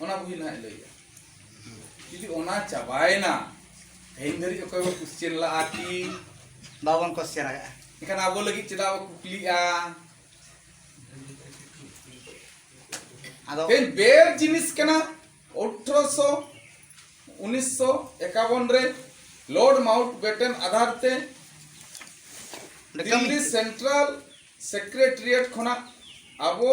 ᱚᱱᱟ ᱵᱩᱦᱤ ᱱᱟᱦᱟᱜ ᱞᱟᱹᱭᱟ ᱡᱩᱫᱤ ᱚᱱᱟ ᱪᱟᱵᱟᱭᱮᱱᱟ ᱛᱮᱦᱮᱧ ᱫᱷᱟᱹᱨᱤᱡ ᱚᱠᱚᱭ ᱵᱚ ᱠᱩᱥᱪᱮᱱ ᱞᱟᱜᱼᱟ ᱠᱤ ᱵᱟᱵᱚᱱ ᱠᱚᱥᱪᱮᱱ ᱟᱠᱟᱫᱼᱟ ᱮᱱᱠᱷᱟᱱ ᱟᱵᱚ ᱞᱟᱹᱜᱤᱫ ᱪᱮᱫᱟᱜ ᱵᱚ ᱠᱩᱠᱞᱤᱜᱼᱟ ᱟᱫᱚ ᱛᱮᱦᱮᱧ ᱵᱮᱨ ᱡᱤᱱᱤᱥ ᱠᱟᱱᱟ ᱚᱴᱷᱨᱚᱥᱚ ᱩᱱᱤᱥᱥᱚ ᱮᱠᱟᱵᱚᱱ ᱨᱮ ᱞᱚᱨᱰ ᱢᱟᱣᱩᱴ ᱵᱮᱴᱮᱱ ᱟᱫᱷᱟᱨ ᱛᱮ ᱚᱸᱰᱮ ᱠᱟᱹᱢᱤ ᱫᱤᱞᱞᱤ ᱥᱮᱱᱴᱨᱟᱞ ᱥᱮᱠᱨᱮᱴᱟᱨᱤᱭᱮᱴ ᱠᱷᱚᱱᱟᱜ ᱟᱵᱚ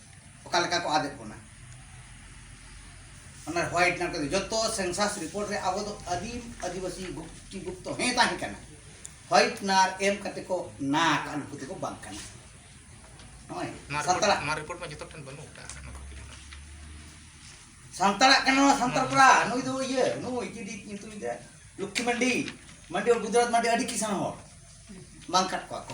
ᱚᱠᱟ ᱞᱮᱠᱟ ᱠᱚ ᱟᱫᱮᱫ ᱵᱚᱱᱟ ᱚᱱᱟ ᱦᱚᱭ ᱴᱟᱱ ᱠᱚᱫᱚ ᱡᱚᱛᱚ ᱥᱮᱱᱥᱟᱥ ᱨᱤᱯᱳᱨᱴ ᱨᱮ ᱟᱵᱚ ᱫᱚ ᱟᱹᱫᱤᱢ ᱟᱹᱫᱤᱵᱟᱹᱥᱤ ᱜᱩᱯᱛᱤ ᱜᱩᱯᱛᱚ ᱦᱮᱸ ᱛᱟᱦᱮᱸ ᱠᱟᱱᱟ ᱦᱚᱭ ᱱᱟᱨ ᱮᱢ ᱠᱟᱛᱮ ᱠᱚ ᱱᱟ ᱠᱟᱜ ᱱᱩᱠᱩ ᱫᱚᱠᱚ ᱵᱟᱝ ᱠᱟᱱᱟ ᱱᱚᱜᱼᱚᱭ ᱥᱟᱱᱛᱟᱲᱟᱜ ᱱᱚᱣᱟ ᱨᱤᱯᱳᱨᱴ ᱢᱟ ᱡᱚᱛᱚ ᱴᱷᱮᱱ ᱵᱟᱹᱱᱩᱜ ᱠᱟᱜ ᱥᱟᱱᱛᱟᱲᱟᱜ ᱠᱟᱱᱟ ᱱᱚᱣᱟ ᱥᱟᱱᱛᱟᱲ ᱠᱚᱲᱟ ᱱᱩᱭ ᱫᱚ ᱤᱭᱟᱹ ᱱᱩᱭ ᱪᱤᱞᱤ ᱧᱩᱛᱩᱢ ᱫᱟ ᱞᱚᱠᱠᱷᱤ ᱢᱟᱱᱰᱤ ᱢᱟᱱᱰᱤ ᱜᱩᱡᱽᱨᱟᱴ ᱢᱟᱱᱰᱤ ᱟᱹᱰᱤ ᱠᱤᱥᱟᱱ ᱦᱚᱲ ᱵᱟᱝ ᱠᱟᱴ ᱠᱚᱣᱟ ᱠᱚ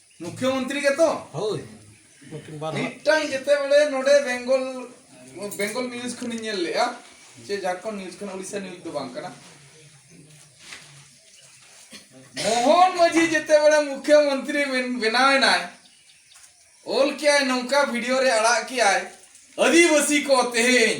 ᱢᱩᱠᱷᱭᱚᱢᱚᱱᱛᱨᱤ ᱜᱮᱛᱚ ᱦᱳᱭ ᱢᱤᱫᱴᱟᱝ ᱡᱮᱛᱮ ᱵᱮᱲᱮ ᱱᱚᱰᱮ ᱵᱮᱝᱜᱚᱞ ᱵᱮᱝᱜᱚᱞ ᱱᱤᱭᱩᱡᱽ ᱠᱷᱚᱱᱤᱧ ᱧᱮᱞ ᱞᱮᱜᱼᱟ ᱥᱮ ᱡᱷᱟᱲᱠᱷᱚᱸᱰ ᱱᱤᱭᱩᱡᱽ ᱠᱟᱱᱟ ᱩᱲᱤᱥᱥᱟ ᱱᱤᱭᱩᱡᱽ ᱫᱚ ᱵᱟᱝ ᱠᱟᱱᱟ ᱢᱳᱦᱚᱱ ᱢᱟᱹᱡᱷᱤ ᱡᱮᱛᱮ ᱵᱮᱲᱮ ᱢᱩᱠᱷᱭᱚᱢᱚᱱᱛᱨᱤ ᱵᱮᱱᱟᱣ ᱮᱱᱟᱭ ᱚᱞ ᱠᱮᱜᱼᱟᱭ ᱱᱚᱝᱠᱟ ᱵᱷᱤᱰᱤᱭᱳ ᱨᱮ ᱟᱲᱟᱜ ᱠᱮᱜᱼᱟᱭ ᱟᱹᱫᱤᱵᱟᱹᱥᱤ ᱠᱚ ᱛᱮᱦᱮᱧ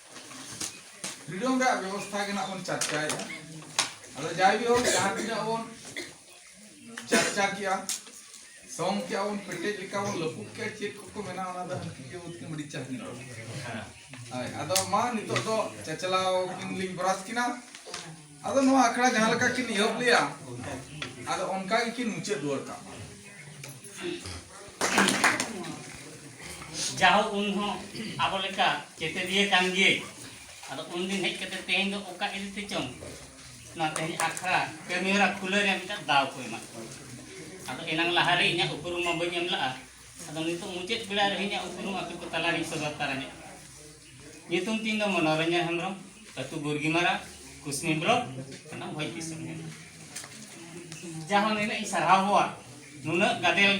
ᱯᱷᱨᱤᱰᱚᱢ ᱨᱮᱭᱟᱜ ᱵᱮᱵᱚᱥᱛᱷᱟ ᱜᱮ ᱱᱟᱜ ᱵᱚᱱ ᱪᱟᱨᱪᱟᱭᱮᱫᱟ ᱟᱫᱚ ᱡᱟᱭᱦᱳᱠ ᱡᱟᱦᱟᱸ ᱛᱤᱱᱟᱹᱜ ᱵᱚᱱ ᱪᱟᱨᱪᱟ ᱠᱮᱜᱼᱟ ᱥᱚᱢ ᱠᱮᱜᱼᱟ ᱵᱚᱱ ᱯᱮᱴᱮᱡ ᱞᱮᱠᱟ ᱵᱚᱱ ᱞᱟᱹᱯᱩᱜ ᱠᱮᱜᱼᱟ ᱪᱮᱫ ᱠᱚᱠᱚ ᱢᱮᱱᱟ ᱚᱱᱟ ᱫᱚ ᱦᱟᱹᱱᱠᱤ ᱜᱮ ᱵᱚᱱ ᱢᱤᱰᱤ ᱪᱟᱥ ᱠᱤᱱ ᱨᱚᱲ ᱦᱳᱭ ᱟᱫᱚ ᱢᱟ ᱱᱤᱛᱚᱜ ᱫᱚ ᱪᱟᱪᱞᱟᱣ ᱠᱤᱱ ᱞᱤᱧ ᱵᱨᱟᱥ ᱠᱤᱱᱟ ᱟᱫᱚ ᱱᱚᱣᱟ ᱟᱠᱷᱲᱟ ᱡᱟᱦᱟᱸ ᱞᱮᱠᱟ ᱠᱤᱱ ᱮᱦᱚᱵ ᱞᱮᱭᱟ ᱟᱫᱚ ᱚᱱᱠᱟ ᱜᱮ ᱠᱤᱱ ᱢᱩᱪᱟᱹᱫ ᱨᱩᱣᱟᱹᱲ ᱠᱟᱜ ᱢᱟ ᱡᱟᱦᱳ ᱩᱱ ᱦᱚᱸ ᱟᱵᱚ ᱞᱮᱠᱟ ᱪᱮᱛᱮᱫᱤᱭᱟᱹ ᱠᱟᱱ ᱜᱮ ᱟᱫᱚ ᱩᱱ ᱫᱤᱱ ᱦᱮᱡ ᱠᱟᱛᱮ ᱛᱮᱦᱮᱧ ᱫᱚ ᱚᱠᱟ ᱤᱫᱤ ᱛᱮ ᱪᱚᱝ ᱱᱚᱣᱟ ᱛᱮᱦᱮᱧ ᱟᱠᱷᱲᱟ ᱠᱟᱹᱢᱤ ᱦᱚᱨᱟ ᱠᱷᱩᱞᱟᱹᱣ ᱨᱮᱭᱟᱜ ᱢᱤᱫᱴᱟᱝ ᱫᱟᱣ ᱠᱚ ᱮᱢᱟᱜ ᱟᱫᱚ ᱮᱱᱟᱝ ᱞᱟᱦᱟ ᱨᱮ ᱤᱧᱟᱹᱜ ᱩᱯᱨᱩᱢ ᱢᱟ ᱵᱟᱹᱧ ᱮᱢ ᱞᱟᱜᱼᱟ ᱟᱫᱚ ᱱᱤᱛᱚᱜ ᱢᱩᱪᱟᱹᱫ ᱵᱮᱲᱟ ᱨᱮ ᱤᱧᱟᱹᱜ ᱩᱯᱨᱩᱢ ᱟᱯᱮ ᱠᱚ ᱛᱟᱞᱟᱨᱤᱧ ᱥᱚᱫᱚᱨ ᱛᱟᱨᱟ ᱧᱚᱜ ᱧᱩᱛᱩᱢ ᱛᱤᱧ ᱫᱚ ᱢᱚᱱᱚᱨᱚᱧᱡᱚᱱ ᱦᱮᱢᱵᱨᱚᱢ ᱟᱹᱛᱩ ᱵᱩᱨᱜᱤᱢᱟᱨᱟ ᱠᱩᱥᱢᱤ ᱵᱞᱚᱠ ᱠᱟᱱᱟ ᱵᱷᱚᱡᱽ ᱫᱤᱥᱚᱢ ᱡᱟᱦᱟᱸ ᱱᱤᱱᱟᱹᱜ ᱤᱧ ᱥᱟᱨᱦᱟᱣᱟ ᱱᱩᱱᱟᱹᱜ ᱜᱟᱫᱮᱞ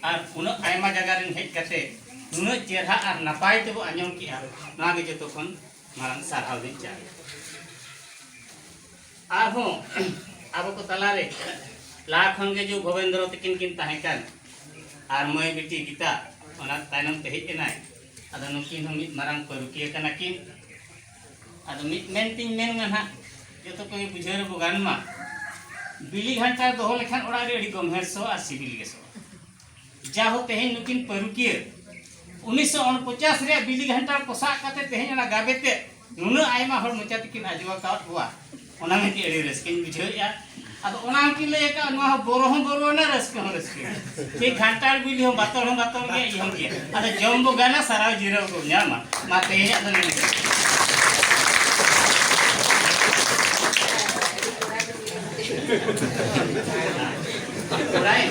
ᱟᱨ ᱩᱱᱟᱹᱜ ᱟᱭᱢᱟ ᱡᱟᱭᱜᱟ ᱨᱮᱱ ᱦᱮᱡ ᱠᱟᱛᱮ ᱱᱩᱱᱟᱹᱜ ᱪᱮᱦᱨᱟ ᱟᱨ ᱱᱟᱯᱟᱭ ᱛᱮᱵᱚ ᱟᱸᱡᱚᱢ ᱠᱮᱜᱼᱟ ᱱᱚᱣᱟ ᱜᱮ ᱡᱚᱛᱚ ᱠᱷᱚᱱ ᱢᱟᱨᱟᱝ ᱥᱟᱨᱦᱟᱣ ᱫᱚᱧ ᱪᱟᱞ ᱟᱨᱦᱚᱸ ᱟᱵᱚ ᱠᱚ ᱛᱟᱞᱟᱨᱮ ᱞᱟᱦᱟ ᱠᱷᱚᱱ ᱜᱮ ᱡᱩ ᱜᱳᱵᱤᱱᱫᱨᱚ ᱛᱟᱹᱠᱤᱱ ᱠᱤᱱ ᱛᱟᱦᱮᱸ ᱠᱟᱱ ᱟᱨ ᱢᱟᱹᱭ ᱵᱤᱴᱤ ᱜᱤᱛᱟ ᱚᱱᱟ ᱛᱟᱭᱱᱚᱢ ᱛᱮ ᱦᱮᱡ ᱮᱱᱟᱭ ᱟᱫᱚ ᱱᱩᱠᱤᱱ ᱦᱚᱸ ᱢᱤᱫ ᱢᱟᱨᱟᱝ ᱯᱟᱹᱨᱩᱠᱤᱭᱟᱹ ᱠᱟᱱᱟ ᱠᱤᱱ ᱟᱫᱚ ᱢᱤᱫ ᱢᱮᱱ ᱛᱤᱧ ᱢᱮᱱ ᱢᱟ ᱱᱟᱦᱟᱜ ᱡᱚᱛᱚ ᱠᱚᱜᱮ ᱵᱩᱡᱷᱟᱹᱣ ᱨᱮᱵᱚ ᱜᱟᱱ ᱢᱟ ᱵᱤᱞᱤ ᱜᱷᱟᱱᱴᱟ ᱫᱚᱦᱚ ᱞᱮᱠᱷᱟᱱ ᱚᱲᱟᱜ ᱨᱮ ᱟᱹᱰᱤ ᱜᱚᱢᱦᱮ ᱥᱚ ᱟᱨ ᱥᱤᱵᱤᱞ ᱜᱮ ᱥᱚ ᱡᱟᱦᱳ ᱛᱮᱦᱮᱧ ᱱᱩᱠᱤᱱ ᱯᱟᱹᱨᱩᱠᱤᱭᱟᱹ ᱩᱱᱤᱥᱥᱚ ᱩᱱᱯᱚᱪᱟᱥ ᱨᱮᱭᱟᱜ ᱵᱤᱞᱤ ᱜᱷᱟᱱᱴᱟ ᱯᱚᱥᱟᱜ ᱠᱟᱛᱮ ᱛᱮᱦᱮᱧ ᱚᱱᱟ ᱜᱟᱵᱮ ᱛᱮ ᱱᱩᱱᱟᱹᱜ ᱟᱭᱢᱟ ᱦᱚᱲ ᱢᱚᱪᱟ ᱛᱮᱠᱤᱱ ᱟᱸᱡᱚᱢ ᱟᱠᱟᱫ ᱠᱚᱣᱟ ᱚᱱᱟ ᱢᱮᱱᱛᱮ ᱟᱹᱰᱤ ᱨᱟᱹᱥᱠᱟᱹᱧ ᱵᱩᱡᱷᱟᱹᱣᱮᱫᱼᱟ ᱟᱫᱚ ᱚᱱᱟ ᱦᱚᱸᱠᱤᱱ ᱞᱟᱹᱭ ᱟᱠᱟᱫ ᱱᱚᱣᱟ ᱦᱚᱸ ᱵᱚᱨᱚ ᱦᱚᱸ ᱵᱚᱨᱚᱣᱟᱱᱟ ᱨᱟᱹᱥᱠᱟᱹ ᱦᱚᱸ ᱨᱟᱹᱥᱠᱟᱹ ᱪᱮ ᱠᱷᱟᱱᱴᱟᱲ ᱵᱤᱞᱤ ᱦᱚᱸ ᱵᱟᱛᱚᱲ ᱦᱚᱸ ᱵᱟᱛᱚᱲ ᱜᱮᱭᱟ ᱤᱭᱟᱹ ᱦᱚᱸ ᱜᱮᱭᱟ ᱟᱫᱚ ᱡᱚᱢ ᱵᱚ ᱜᱟᱱᱟ ᱥᱟᱨᱟᱣ ᱡᱤᱨᱟᱹᱣ ᱵᱚ ᱧᱟᱢᱟ ᱢᱟ ᱛᱮᱦᱮᱧᱟᱜ ᱫᱚ ᱱᱤᱭᱟᱹ Right?